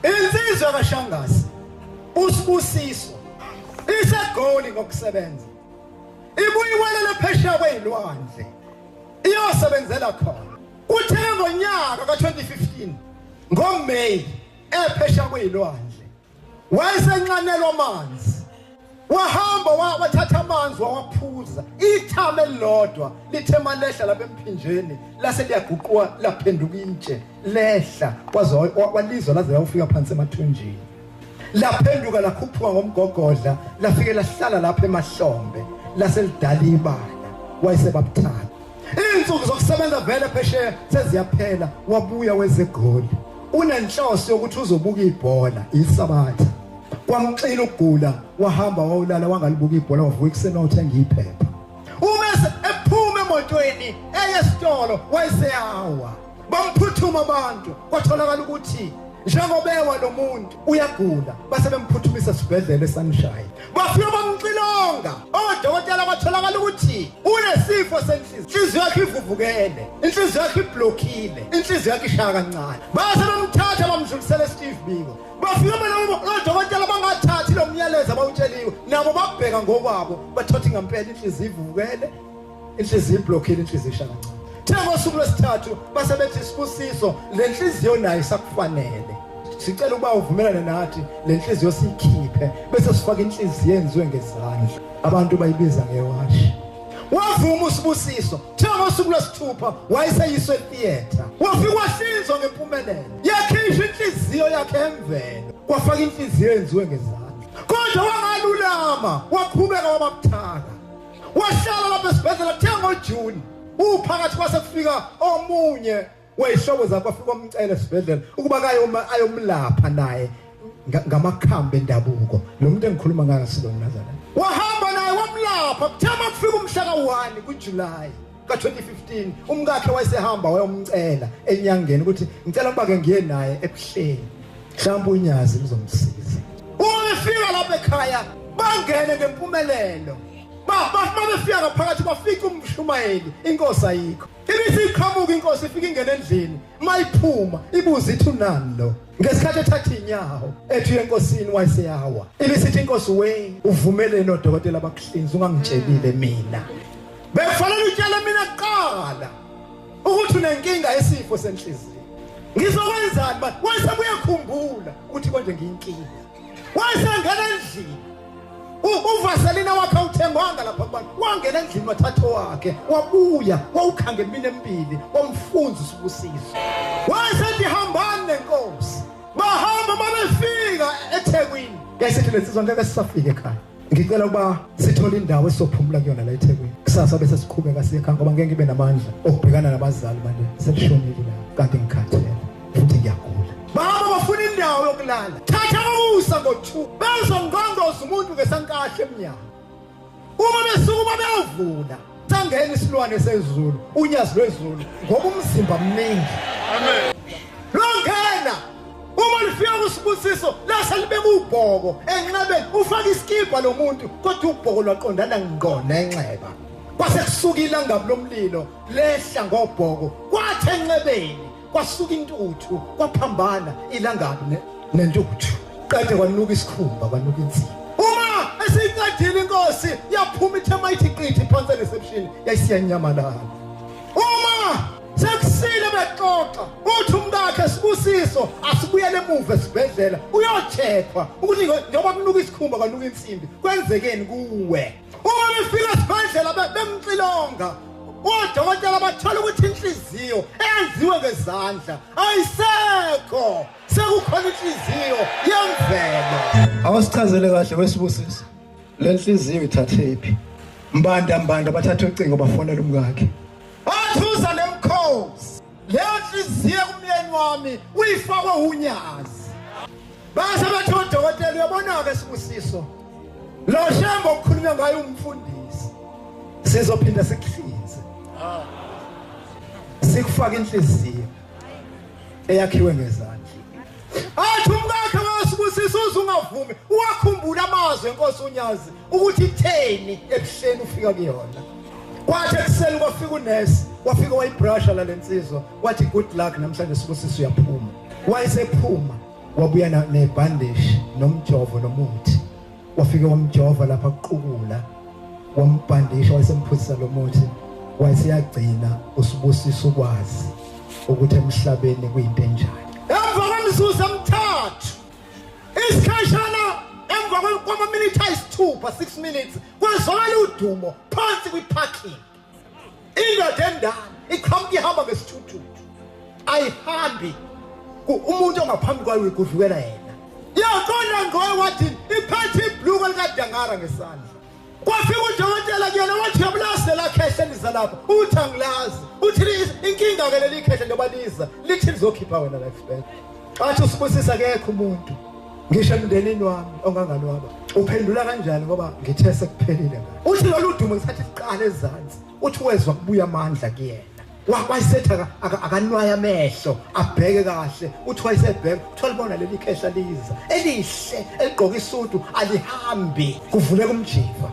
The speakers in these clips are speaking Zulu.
Insizwa kaShangasi usibusiso isegoli ngokusebenza ibuyiwelela phesheya kwezilwandle iyosebenzela khona uthe ngonyaka ka-2015 ngoMay ephesha kwezilwandle wayesenxanelwa amanzi wahamba wa- wathatha amanzi wawaphuza ithama elilodwa lithe malehla lapha emphinjeni lase liyaguquka laphenduka intshe lehla waze wa- wa- walizwa laze lawufika phansi emathunjini laphenduka lakhuphuka ngomgogodla lafike lahlala lapha emahlombe lase lidala ibala wayesebabuthatha izinsuku zokusebenza vele phesheya seziyaphela wabuya wezegoli unenhloso yokuthi uzobuka ibhola isabatha kwamxila ukugula wahamba wawulala wangalibuka ibhola wavuka ekuseni wawuthenga iphepha uma ephuma emotweni eye esitolo wayeseyawa bamphuthuma abantu kwatholakala ukuthi njengobewa lo muntu uyagula base bemphuthumisa esibhedlela esanishaya bafika bamxilonga odokotela batholakala ukuthi unesifo senhliziyo inhliziyo yakhe ivuvukele inhliziyo yakhe iblokhile inhliziyo yakhe ishaya kancane base bamthatha bamdlulisela esteve biko bafike beloko odokotela bangathathi lo myalezo abawutsheliwe nabo babheka ngokwabo bathothi ngempela inhliziyo ivukele inhliziyo iblokhile inhliziyo ishaya kancane thina ngosuku lwesithathu base bethi sibusiso le nhliziyo nayo isakufanele sicela ukuba uvumelane nathi le nhliziyo siyikhiphe bese sifaka inhliziyo enziwe ngezandla abantu bayibiza ngewashi wavuma usibusiso kuthiwa ngosuku lwesithupha wayeseyiswe theatre wafika wahlinzwa ngempumelelo yakhishwa inhliziyo yakhe emvelo kwafaka inhliziyo yenziwe ngezandla kodwa wangalulama waqhubeka wabamthaka wahlala lapha esibhedlela kuthiwa ngojuni uphakathi kwase kufika omunye Wayishoko zakho afika umcela esibhedlela ukuba kaye uma ayomlapha naye ngamakhambi endabuko. Lo muntu engikhuluma ngayo silo mnazana. Wahamba naye wamlapha kuthama kufika umhla ka-1 kuJuly. ka-2015 umkakhe wayesehamba wayomcela enyangeni ukuthi ngicela ukuba-ke ngiye naye ebuhleni mhlawumbe unyazi ngizomsiza uma befika lapha ekhaya bangene ngempumelelo bafika ngaphakathi bafike umshumayeli inkosi ayikho Ibisi iqhamuka inkosi ifika ingena endlini mayiphuma ibuza ithi unani lo ngesikhathi ethatha inyawo ethi enkosini wayeseyawa ibisithi inkosi we uvumeleni odokotela abakuhlinza ungangitshelile mina bekufanele utshele mina kuqala ukuthi unenkinga yesifo senhliziyo ngizokwenzani manje wayesebuye khumbula ukuthi konje ngiyinkinga wayesengena endlini uvaselina wakhe awuthengwanga lapha kubantu wangena endlini wathatha wakhe wabuya wawukhanga emini emibili wamfunza usubusiso wayesethi hambani nenkosi bahamba babefika ethekwini yayisethi lensizwa ngeke sisafike ekhaya ngicela ukuba sithole indawo esophumula kuyona la eThekwini kusasa bese siqhubeka siye ekhaya ngoba ngeke ngibe namandla okubhekana nabazali manje selishonile la kanti ngikhathele futhi ngiyagula baba bafuna indawo yokulala thatha ukusa ngo-2 bezongqondoza umuntu ngesankahle emnyango uma besukuma beyovula Thangeni isilwane sezulu, unyazi lwezulu ngoba umzimba mningi. Amen. Longena uma lifika kusibusiso lase libe kubhoko enxebeni ufaka isikibha lo muntu kodwa ubhoko lwaqondana ngqo nenxeba. Kwase kusuka ilanga lomlilo lehla ngobhoko kwathi enxebeni Kwasuka intuthu, kwaphambana ilangabi ne, nentuthu. Qede kwanuka isikhumba, kwanuka inzima. Uma esiyiqedile inkosi yaphuma ithema ithi qithi phansi reception yayisiyanyamalala. Uma sekusile bexoxa uthi umkakhe sibusiso asibuyele emuva esibhedlela uyocheckwa ukuthi njengoba kunuka isikhumba kwanuka insimbi kwenzekeni kuwe uma befika esibhedlela be- bemxilonga odokotela bathola ukuthi inhliziyo eyenziwe ngezandla ayisekho sekukhona inhliziyo yemvelo awusichazele kahle wesibusisi le nhliziyo ithathephi mbanda mbanda bathatha ucingo bafonela umkakhe leyo nhliziyo kumyeni wami uyifakwe unyazi base bathi odokotela uyabona-ke sibusiso lo shembe okukhulunywa ngayo umfundisi sizophinde sikuhlinze sikufake inhliziyo eyakhiwe ngezandla athi umkakhe wasibusisa uze ungavumi uwakhumbula amazwi enkosi unyazi ukuthi itheni ebuhleni ufika kuyona kwathi ekuseni kwafika unesi wafika wayibrasha la lensizwa wathi good luck namhlanje sibusisa uyaphuma wayesephuma wabuya nebhandishi nomjovo nomuthi wafike wamjova lapha kuqukula wambhandisha wayesemphuzisa lo muthi wayeseyagcina usibusisa ukwazi ukuthi emhlabeni kuyinto enjani emva kwemizuzu emithathu isikhashana emva kwamaminithi ayisithupha 6 minutes kwezwakala udumo phansi kwi-parking indoda endala iqhamuka ihamba ngesithuthuthu ayihambi umuntu ongaphambi kwayo uyigudlukela yena yaqonda ngoye wathi iphethe ibhluko likadangara ngesandla kwafika udokotela kuyena wathi yamlazi lelakhehla liza lapha uthi angilazi uthi inkinga-ke leli khehla njengoba liza lithi lizokhipha wena lifebel Wathi usibusisa kekho umuntu ngisho emndenini wami onganganwaba uphendula kanjani ngoba ngithe sekuphelile uthi lolu dumo ngisathi iqala ezansi uthi wezwa kubuya amandla kuyena wayisetha akanwaya amehlo abheke kahle uthi wayesebheka kuthiwa libona leli khehla liza elihle eligqoke isudu alihambi kuvuleka umjiva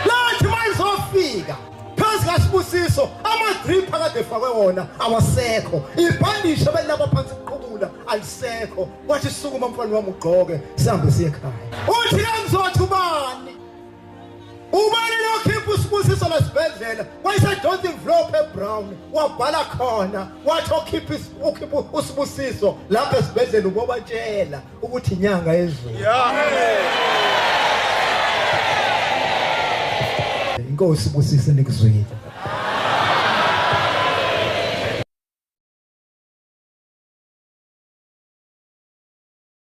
lathi mayizofika phansi kaSibusiso amadrip akade efakwe wona awasekho ibhandishe belilapha phansi kuqhubula alisekho wathi sukuma mfana wami ugqoke sihambe siye ekhaya uthi kangizothi ubani ubani lokhipha usibusiso lesibhedlela wayesedonsa imvlophu ebrown wabhala khona wathi okhipha usibusiso lapha esibhedlela ubobatshela ukuthi inyanga yezulu inkosi busise nikuzwile